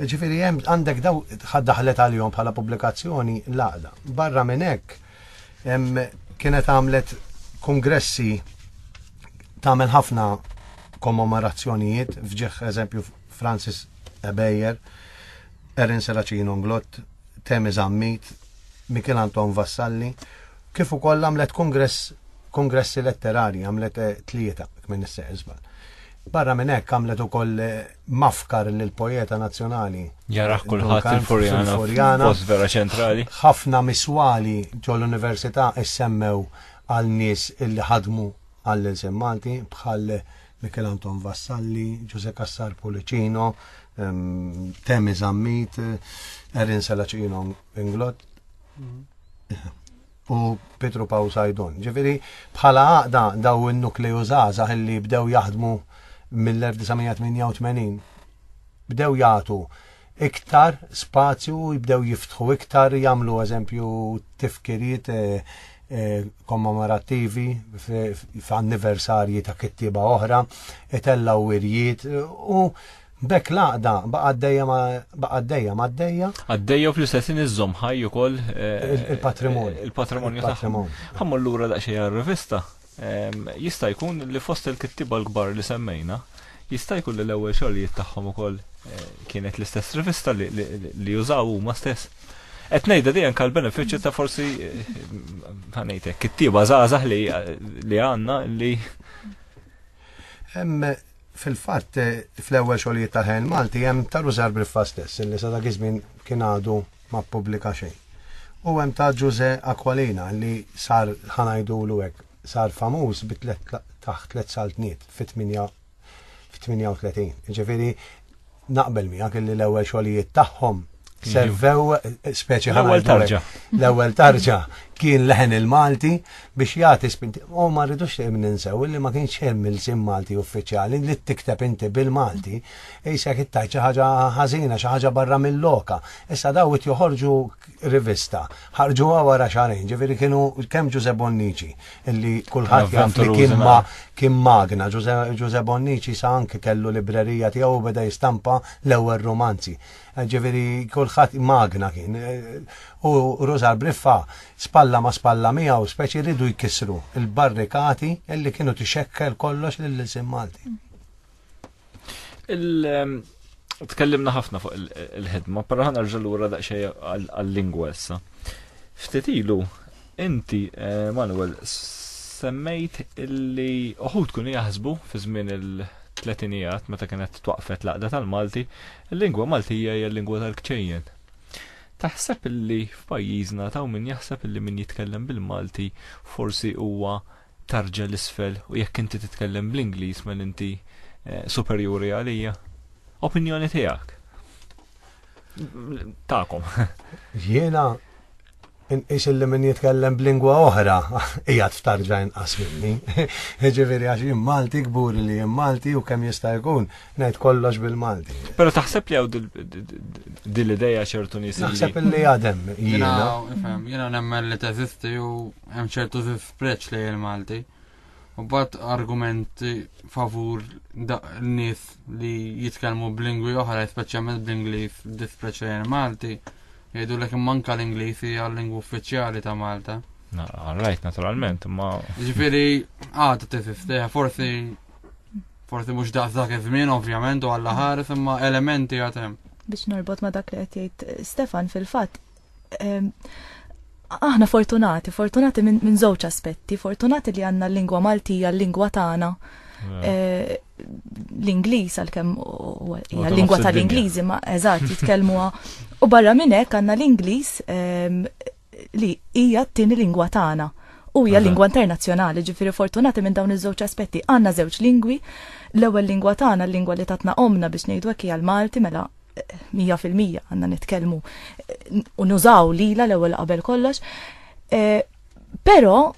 [SPEAKER 3] Ġifieri hemm għandek daw daħlet għalihom bħala pubblikazzjoni l-għaqda. Barra minn hekk kienet għamlet kongressi tagħmel ħafna kommemorazzjonijiet f'ġeħ eżempju Francis Ebejer, Erin Seracino Nglott, Temi Zammit, Mikel Anton Vassalli kif ukoll għamlet kungress kongressi letterarji għamlet eh, tlieta minn is żball. Barra minn hekk għamlet ukoll eh, mafkar lil pojeta nazzjonali. Jara eh, kulħadd
[SPEAKER 1] il-Furjana post vera ċentrali. Ħafna miswali
[SPEAKER 3] ġol università issemmew għal nies illi ħadmu għall-ilsem Malti bħal Mikel Anton Vassalli, Ġuse Kassar Pulicino, ehm, Temi Zammit, Erin Salaċino Inglot, u Petru Paw Sajdon. Ġifiri, bħala għaqda daw il-nukleju zazax li bdew jaħdmu mill-1988, bdew jgħatu iktar spazju, jibdew jiftħu iktar, jamlu eżempju tifkiriet eh, eh, kommemorattivi f'anniversarji ta' kittiba oħra, itellaw wirjiet u B'hekk l-għaqda baqgħet dejjem baqgħet dejjem għaddejja. Għaddejja u fl-istess ħin iżżomm ħaj ukoll eh, il-patrimonju. Il-patrimonju tagħhom. Ħammur lura daqsxejn għar-rivista. Ehm, jista' jkun li fost il-kittiba l-kbar li semmejna, jista' jkun li l-ewwel xogħlijiet tagħhom ukoll eh, kienet l-istess rivista li jużaw huma stess. Qed ngħidha dejjem kal benefiċċju ta' forsi eh, ħanejtek kittiba żgħażagħ li għandna li Fil-fatt, fl-ewwel xogħlijiet tal-ħajja Malti hemm ta' Rużar Briffa stess illi sa dak iż-żmien kien għadu ma ppubblika xejn. U hemm ta' Ġużè Aqualina li sar ħa ngħidulu hekk sar famuż bi tliet taħt tliet saltniet fit-38. Jiġifieri Naqbel miegħek li l-ewwel xogħlijiet tagħhom mhm. servew speċi l-ewwel tarġa. L-ewwel tarġa kien leħen il-Malti biex jagħti spinti. U ma rridux li ninsew li ma kienx hemm il-sim Malti uffiċjali li tikteb inti bil-Malti isek ittajt xi ħaġa ħażina, xi ħaġa barra mill-loka. Issa daw it joħorġu rivista. Ħarġuha wara xarejn, ġifieri kienu kemm Ġuże Bonnici, illi kulħadd jaf li kien ma kien magna. Ġuże Bonnici sa anke kellu librerija tiegħu u beda jistampa l-ewwel romanzi. Eh, ġifieri kulħadd magna kien. Eh, u Rużar Briffa spalla ma spalla miegħu speċi ridu jkissru il-barrikati illi kienu tixekkel kollox lill-isim Malti. Tkellimna ħafna fuq
[SPEAKER 1] il-ħidma, pero ħana rġal ura daqxej għal-lingwa issa. Ftit ilu, inti, eh, Manuel, semmejt illi uħud kun jaħsbu fi żmien il-tletinijat meta kienet twaqfet laqda tal-Malti, il-lingwa Maltija hija l-lingwa tal-kċejjen. Taħseb illi f'pajjiżna taw min jaħseb illi min jitkellem bil-Malti forsi huwa tarġa l-isfel u jekk inti titkellem bl-Ingliż mel inti eh, superjuri għalija. Opinjoni tiegħek. Takom. Jiena
[SPEAKER 3] inqis li min jitkellem b'lingwa oħra hija tftarġa inqas minni. Ġifieri għax jien Malti kbur li jien Malti u kemm jista' jkun ngħid kollox bil-Malti. Però taħseb li hawn
[SPEAKER 1] din l-idea ċertu nies. Naħseb li għadem
[SPEAKER 3] jiena.
[SPEAKER 4] Jiena nemmen li teżisti u hemm ċertu preċ li il-Malti. U bat argumenti favur n-nis li jitkelmu b'lingwi oħra, speċjalment bl-Inglis, dispreċ li il-Malti. Jgħidu l manka l-Inglis hija l-lingwa uffiċjali ta' Malta. Rajt,
[SPEAKER 1] naturalment, ma. Ġifiri,
[SPEAKER 4] għad t-tififteħ, forsi forsi mux daqsa kif min, ovvjament, u għalla ħares, imma elementi għatem. Biex norbot ma
[SPEAKER 2] dak li għetjajt Stefan fil-fat, aħna fortunati, fortunati minn min żewġ aspetti, fortunati li għandna l-lingwa Maltija, l-lingwa tagħna. Eh, l-Ingliż għalkemm hija l-lingwa tal-Ingliżi ma eżatt jitkellmuha. U barra minn hekk għandna l-Ingliż ehm, li hija t-tieni lingwa tagħna u hija lingwa internazzjonali, ġifieri fortunati minn dawn iż-żewġ aspetti. Għandna żewġ lingwi, l-ewwel lingwa tagħna, l-lingwa li tatna omna biex ngħidu hekk hija l-Malti mela mija fil-mija għanna nitkelmu u nużaw lila l-ewwel qabel kollox. E, però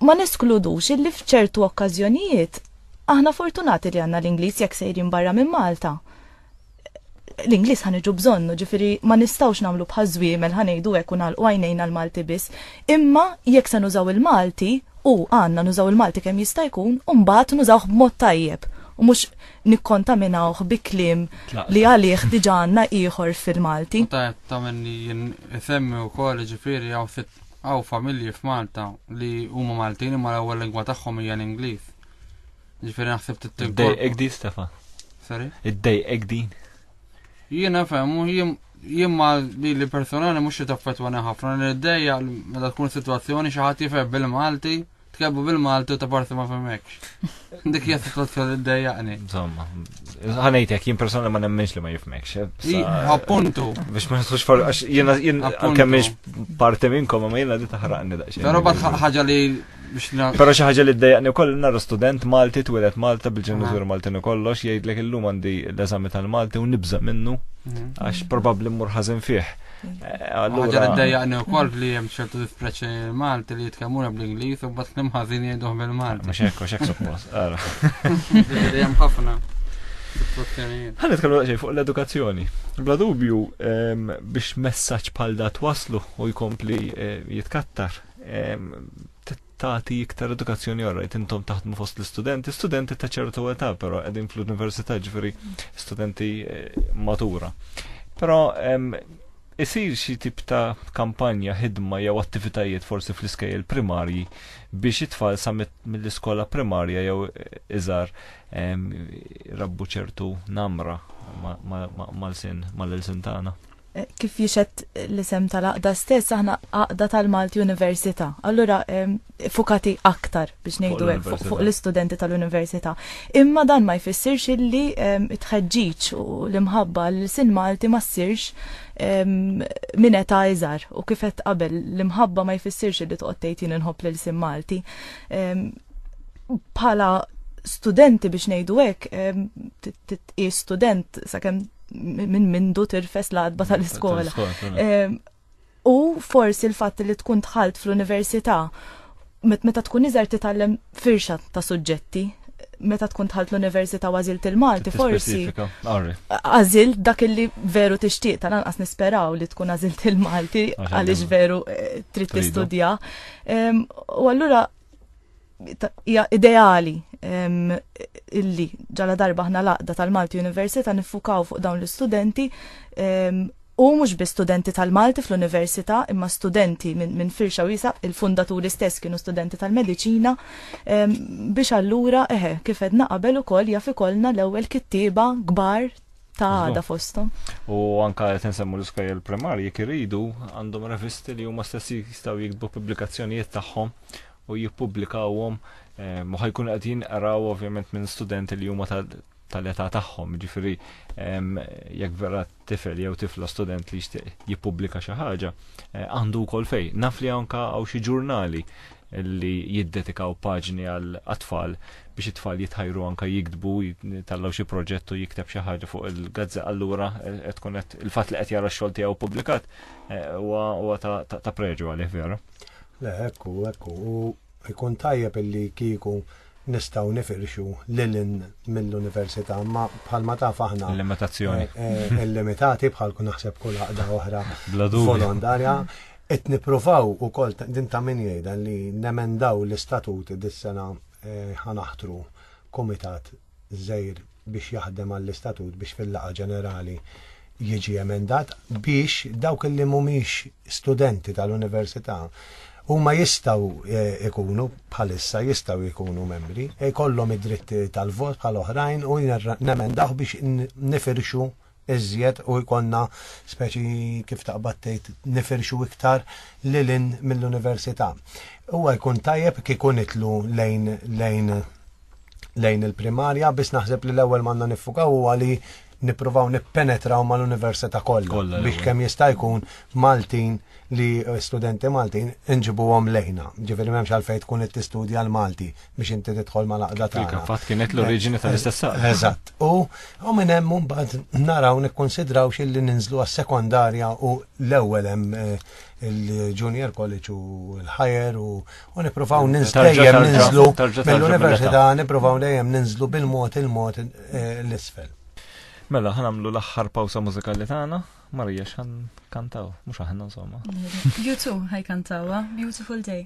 [SPEAKER 2] ma neskludux illi f'ċertu okkażjonijiet aħna fortunati li għanna l-Ingliż jekk sejrin barra minn Malta. L-Ingliż ħaniġu bżonnu, ġifiri ma nistawx namlu bħal żwiemel ħanejdu hekk u nagħlqu għajnejna l-Malti biss. Imma jekk se nużaw il-Malti u għandna nużaw il-Malti kemm jista' jkun, u mbagħad nużawh b'mod tajjeb u mhux nikkontaminawh bi kliem li għalih diġà għandna ieħor fil-Malti. Meta qed tagħmilni
[SPEAKER 4] jien isemmi wkoll jiġifieri hawn sitt hawn familji f'Malta li huma Maltin imma l-ewwel lingwa tagħhom hija l-Ingliż. Jiġifieri naħseb tittinkorpora. Iddejqek din Stefan.
[SPEAKER 1] Sorry?
[SPEAKER 4] Iddejqek din.
[SPEAKER 1] Jiena
[SPEAKER 4] fehmu jien jien ma li li personali mhux qed affettwani ħafna li ddejja meta tkun sitwazzjoni xi ħadd jifhem bil-Malti Tkellmu bil-Maltu ta' parti ma femmekx. Dik jgħat t-tlot kol id-dajjaqni.
[SPEAKER 1] Insomma, ħanajtek, jien persona ma nemmenx li ma jifmekx. Eh, appuntu.
[SPEAKER 4] Biex ma jisux
[SPEAKER 1] for, għax jena jien kemmiex parti minnkom, ma jena di taħraqni daqxie. Pero bat
[SPEAKER 4] ħagġa li Pero xi
[SPEAKER 1] ħaġa li d-dajjaqni u koll narra student Malti twilet Malta bil-ġenizur Malti u kollox jgħidlek illum għandi l-eżami tal-Malti u nibza minnu mhm. għax probabli mmur ħażin fih. Għagħar
[SPEAKER 4] id-dajjaqni u kol li jem ċertu dispreċi Malti li jitkellmuna bl-Inglis u bat klim ħazin jgħiduħ bil-Malti. Mux ekku, xek suppos. Jem ħafna.
[SPEAKER 1] Għan nitkellmu ġej fuq l-edukazzjoni. Bla dubju ehm, biex messaġġ bħal dat waslu u jkompli eh, jitkattar ehm, tagħti iktar edukazzjoni orajt intom taħdmu fost l-istudenti, studenti ta' ċertu età però qegħdin fl-università ġifieri studenti eh, matura. Però isir xi tip ta' kampanja ħidma jew attivitajiet forsi fl-iskejjel primarji biex it-tfal sa mill-iskola primarja jew eh, iżar rabbu ċertu namra mal-sin mal-ilsin tagħna. kif jixet
[SPEAKER 2] l-isem tal-aqda stess, aħna aqda tal-Malti Università. Allura, fukati aktar biex nejdu fuq l-istudenti tal-Università. Imma dan ma jfissirx illi tħedġiċ u l-imħabba l-sin Malti ma ssirx minn età iżar u kifet qabel l-imħabba ma jfissirx illi toqgħod tgħid jien inħobb lil sin Malti. Bħala studenti biex nejdu hekk, titqis student sakemm minn mindu tirfes l-adba tal-iskola. Ehm, u forsi l-fatt li tkun tħalt fl-università, meta tkun iżgħar titgħallem firxa ta' suġġetti, meta tkun tħalt l-Università għażilt il-Malti, forsi. Għażilt dak li veru tixtieq, tal-anqas nisperaw li tkun għażilt il-Malti għaliex veru eh, trid tistudja. Ehm, u allura hija ideali illi ġala darba ħna laqda tal-Malti Università nifukaw fuq dawn l-istudenti u mhux bi studenti tal-Malti fl-università imma studenti minn min firxa wisa il-fundaturi stess kienu studenti tal-mediċina biex allura eħe kif edna qabel ukoll jaf ikollna l-ewwel kittieba kbar ta' għada fostom. U anka qed insemmu l-iskajja
[SPEAKER 1] l-primarji kiridu għandhom revisti li huma stessi jistgħu jiktbu pubblikazzjonijiet tagħhom u jippubblikawhom u ħajkun qed jinqraw ovvjament minn studenti li huma tal-età tagħhom, ġifieri jekk vera tifel jew tifla student li jixtieq jippubblika xi ħaġa, eh, għandu wkoll fej. Naf li anka hawn xi ġurnali li jiddedikaw paġni għal atfal biex it-tfal jitħajru anka jikdbu tallaw xi proġett u jikteb xi ħaġa fuq il-gazza allura eh, qed tkun qed il-fatt li qed jara x-xogħol tiegħu pubblikat eh, huwa ta' preġu għalih vera. Le, ekku,
[SPEAKER 3] ekku, u jkun tajjeb illi kieku nistaw nifirxu lilin mill-università, ma bħalma taf aħna. Limitazzjoni. Eh,
[SPEAKER 1] eh, limitati
[SPEAKER 3] bħal kun naħseb kull għaqda oħra volontarja. Et niprofaw u kol din ta' min jgħidan li nemendaw l-istatut dis-sena eh, ħanaħtru komitat żgħir biex jaħdem għall-istatut biex fil-laqgħa ġenerali jiġi emendat biex dawk li mhumiex studenti tal-università huma jistgħu jkunu bħalissa jistgħu jkunu membri, jkollhom id-dritt tal-vot bħal oħrajn u nemendawh biex nifirxu iżjed u jkollna speċi kif taqbad tgħid nifirxu iktar lilin mill-università. Huwa jkun tajjeb kieku nitlu lejn lejn lejn il-primarja biss naħseb li l-ewwel manna niffukaw huwa li nippruvaw nippenetraw mal-università kollha biex kemm jista' jkun Maltin li studenti Maltin inġibuhom lejna. Ġifieri m'hemmx għalfejn tkun qed tistudja l-Malti, biex inti tidħol ma laqda ta' Il-kapat kienet l-oriġini
[SPEAKER 1] tal-istess Eżatt. U
[SPEAKER 3] u minn hemm mbagħad naraw nikkonsidraw xilli ninżlu għas-sekondarja u l-ewwel hemm eh, il-junior college u l-higher u nippruvaw ninżlu dejjem ninżlu mill-università nippruvaw dejjem ninżlu bil-mod il-mod eh, l-isfel. Mela
[SPEAKER 1] ħanamlu l-aħħar pawsa mużikali tagħna Marija xan kantaw, mhux aħna insomma. YouTube
[SPEAKER 2] ħaj kantawa, Beautiful Day.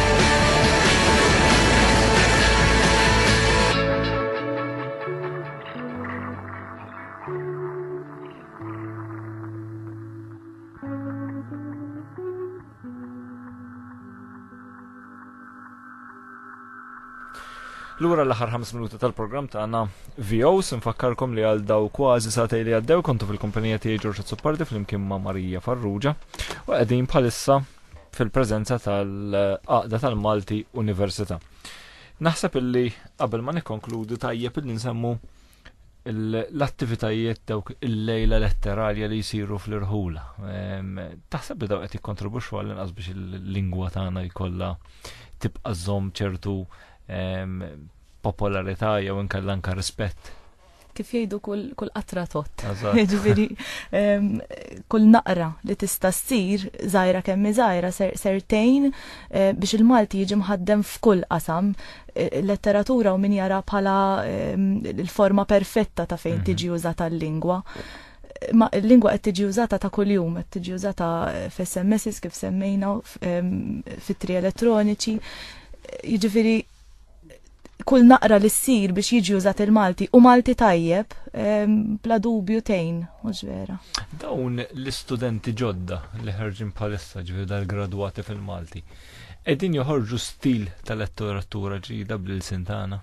[SPEAKER 1] Lura l-aħħar 5 minuti tal-programm tagħna VOs nfakkarkom li għal daw kważi satej li għaddew kontu fil-kumpanija tiegħi Ġorġa Zuppardi flimkien ma' Marija Farrugia u qegħdin bħalissa fil-preżenza tal-Qaqda tal-Malti Università. Naħseb illi qabel ma nikkonkludu tajjeb illi nsemmu l-attivitajiet dawk il-lejla letteralja li jisiru fl-irħula. Taħseb li daw qed jikkontribwixxu għal inqas biex il-lingwa tagħna jkollha tibqa' żomm ċertu popolarità jew inkella anke rispett kif jgħidu
[SPEAKER 2] kull qatra tot. Ġifieri kull naqra li tista' ssir żgħira kemm żgħira sertejn eh, biex il-Malti jiġi mħaddem f'kull qasam eh, letteratura u min jara bħala l-forma perfetta ta' fejn mhm. tiġi użata l-lingwa. Ma l-lingwa qed tiġi użata ta' kuljum, qed tiġi użata eh, f'SMSs kif semmejna fit-tri elettroniċi. Jiġifieri kull naqra li ssir biex jiġi użat il-Malti u Malti tajjeb, bla dubju tejn, mhux vera. Dawn
[SPEAKER 1] l-istudenti ġodda li ħarġin bħalissa ġifieri dal-gradwati fil-Malti, qegħdin joħorġu stil tal-letteratura ġdida bl-ilsin tagħna.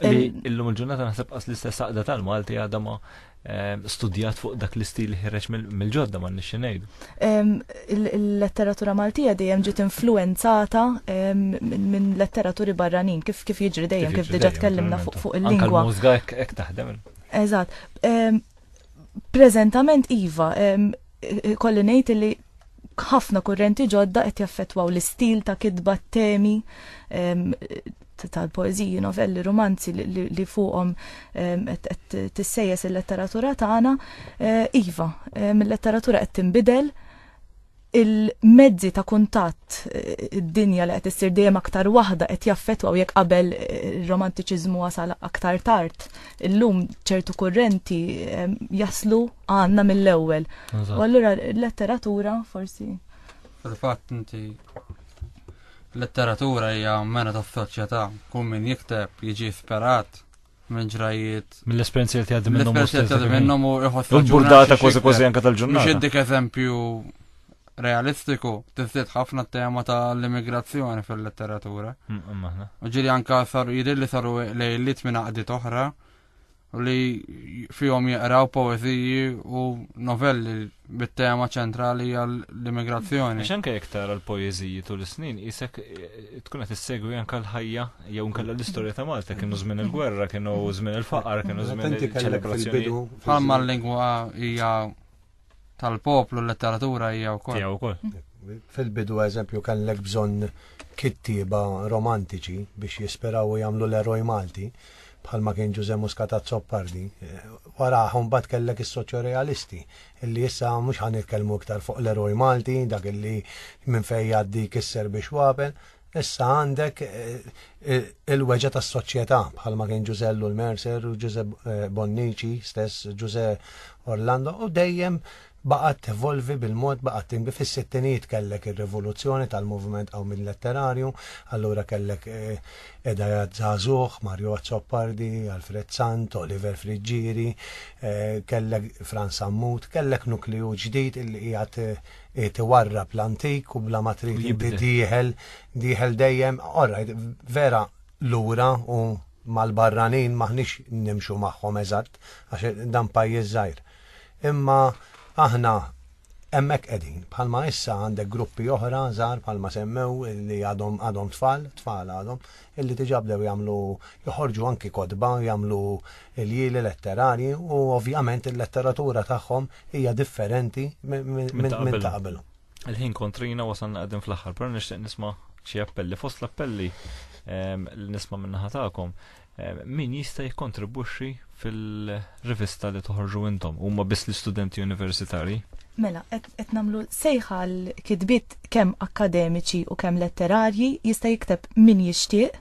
[SPEAKER 1] Illum il-ġurnata naħseb qas l-istess aqda tal-Malti għadha ma Eh, studjat fuq dak l-istil li ħireġ mill-ġodda ma nixxi ngħidu. Il-letteratura
[SPEAKER 2] Maltija dejjem ġiet influenzata minn letteraturi barranin kif kif jiġri dejjem kif diġà tkellimna fuq il-lingwa. Mużga hekk
[SPEAKER 1] taħdem. Eżatt.
[SPEAKER 2] Preżentament iva, kolli ngħid li Ħafna kurrenti ġodda qed jaffettwaw l-istil ta' kitba t-temi ehm, tal-poeżiji, novelli, romanzi li fuqhom ehm, qed tissejjes il-letteratura tagħna. Eh, iva, ehm, il-letteratura qed tinbidel il-mezzi ta' kuntatt eh, id-dinja li qed issir dejjem aktar waħda qed jaffettwaw jekk qabel eh, ir-romantiċiżmu wasal aktar tard illum ċertu kurrenti ehm, jaslu għanna mill-ewwel. U allura letteratura forsi. Fil-fatt
[SPEAKER 4] inti letteratura hija mena ta' soċjetà, kull min jikteb jiġi ispirat minn ġrajiet. Mill-esperienzi li tgħaddi
[SPEAKER 1] minnhom. Mill-esperienzi li tgħaddi minnhom u
[SPEAKER 4] iħossu. Burdata kważi kważi
[SPEAKER 1] anke tal-ġurnata. Mhux dik eżempju
[SPEAKER 4] realistiku tiżdied ħafna tema ta' l-immigrazzjoni fil-letteratura. U ġiri anka saru jidir li saru lejlit minn għaqdiet oħra u li fihom jaqraw poeziji u novelli bit-tema ċentrali għall-immigrazzjoni.
[SPEAKER 1] Għax anke jekk
[SPEAKER 4] tara
[SPEAKER 1] l-poeziji tul is-snin isek eh, tkun qed issegwi anke l-ħajja jew nkella l-istorja ta' Malta kienu żmien il-gwerra, kienu żmien il-faqar, kienu żmien il-ċelebrazzjoni. Bħalma l-lingwa
[SPEAKER 4] hija tal-poplu l-letteratura hija wkoll. Hija wkoll. Fil-bidu
[SPEAKER 3] eżempju kellek bżonn kittieba romantiċi biex jisperaw u jagħmlu l-eroj Malti bħalma kien Ġuże Muscata Zoppardi. Wara mbagħad kellek is-soċjorealisti illi issa mhux ħan nitkellmu iktar fuq l-eroj Malti, dak illi minn fejn jgħaddi kisser biex wapen, Issa għandek il-weġa tas soċjetà bħalma kien Ġużellu l-Mercer u Ġuże Bonnici stess Ġuże Orlando u dejjem baqgħet tevolvi bil-mod baqgħet tinbi fis-sittinijiet kellek ir-rivoluzzjoni tal-moviment qaw minn letterarju, allura kellek edajat żagħżugħ, Mario Azzopardi, Alfred Sant, Oliver Friġġieri, kellek Franz Ammut, kellek nukliju ġdid illi qiegħed Qiegħed iwarrab l-antik u bla ma trid inti Jibdel. dieħel, dieħel dejjem, all right, vera lura u mal-barranin maħniex nimxu magħhom eżatt għax dan pajjiż żgħir. Imma aħna hemmhekk qegħdin, bħalma issa għandek gruppi oħra żgħar bħalma semmew li għadhom għadhom tfal, tfal għadhom, illi diġà bdew jagħmlu joħorġu anki kotba, jagħmlu ljieli letterarji u ovvjament il-letteratura tagħhom hija differenti minn ta' qabel. Il-ħin kontrina
[SPEAKER 1] wasalna qegħdin fl-aħħar, però nixtieq nisma' xi appelli fost l-appelli ehm, li nisma' min-naħa tagħkom ehm, min jista' jikkontribwixxi fil-rivista li toħorġu intom huma biss l-istudenti universitari? Mela, qed
[SPEAKER 2] qed nagħmlu sejħa l-kitbiet kemm akademiċi u kemm letterarji jista' jikteb min jixtieq.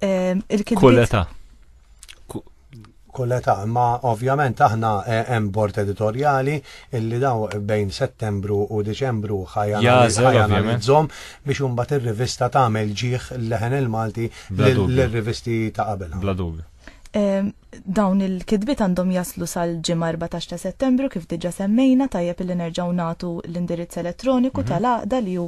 [SPEAKER 1] Ehm, Kulleta.
[SPEAKER 3] Kulleta, ma ovvjament aħna eh, hemm bord editorjali illi daw bejn Settembru u Diċembru ħajanalizzhom biex imbagħad ir-rivista tagħmel ġieħ leħen il-Malti l-rivisti ta' qabel. Bla dubju. Ehm,
[SPEAKER 2] Dawn il-kidbit għandhom jaslu sal-ġimgħa 14 ta' Settembru kif diġà semmejna tajjeb li nerġgħu nagħtu l-indirizz elettroniku mhm. tal-għaqda li hu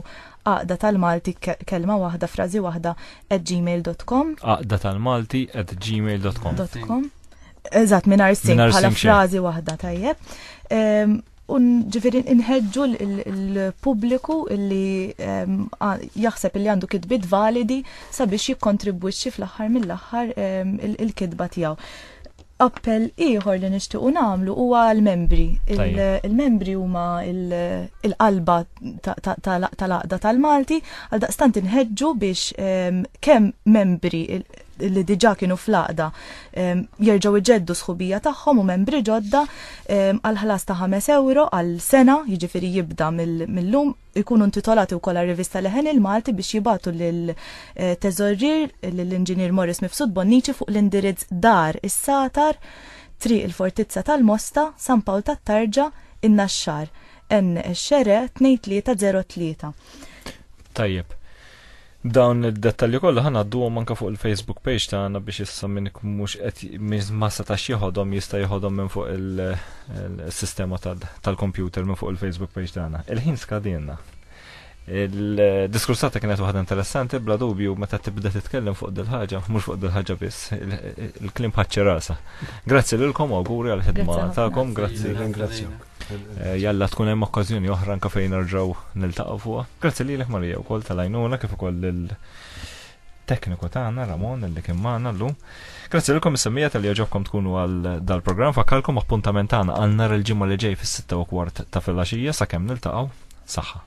[SPEAKER 2] għaqda tal-Malti kelma waħda frażi waħda at gmail.com. Għaqda tal-Malti
[SPEAKER 1] at gmail.com. Eżatt
[SPEAKER 2] mingħajr sing bħala frażi waħda tajjeb. Ehm, Un ġifiri inħedġu l-pubbliku illi ehm, jaħseb illi għandu kitbit validi sabiex jikkontribwixxi fl-aħħar mill-aħħar ehm, il-kitba tiegħu. Appell ieħor li nixtiequ nagħmlu huwa l-membri. Il-membri huma il-qalba tal-aqda tal-Malti għal daqstant inħedġu biex ehm, kemm membri li diġa kienu fl-għaqda jerġgħu iġeddu sħubija tagħhom u membri ġodda għal ħlas ta' 5 euro għal sena, jiġifieri jibda mill-lum ikunu intitolati wkoll għal rivista Leħen il-Malti biex jibatu lil eh, teżorrir lill-Inġinier Morris Mifsud Bonnici fuq l-indirizz dar is-Satar, Triq il-Fortizza tal-Mosta, San Pawl tat-Tarġa, in-Naxxar, N xere 2303.
[SPEAKER 1] Tajjeb. Dawn id-dettalji kollha ħanadduhom anke fuq il-Facebook page tagħna biex issa minn mhux qed ma setax jeħodhom jista' jeħodhom minn fuq il-sistema tal-kompjuter minn fuq il-Facebook page tagħna. Il-ħin skadinna. Il-diskursata kienet waħda interessanti, bla dubju, meta tibda titkellem fuq dil-ħagġa, mhux fuq dil-ħagġa biss, il-klim ħadċi rasa. Grazzi lilkom u għuri għal-ħidma ta'kom, grazzi. Ringrazzjak. Eh, jalla tkun hemm okkażjoni oħra anke fejn nerġgħu niltaqgħu fuqha. Grazzi lilek Marija wkoll tal-għajnuna kif ukoll lil tekniku tagħna Ramon li kien magħna llum. Grazzi lilkom is-semmija tal ġobkom tkunu għal dal-programm fakkalkom appuntament tagħna għal nhar il-ġimgħa li ġej fis-6 u kwart ta' filgħaxija sakemm niltaqgħu saħħa.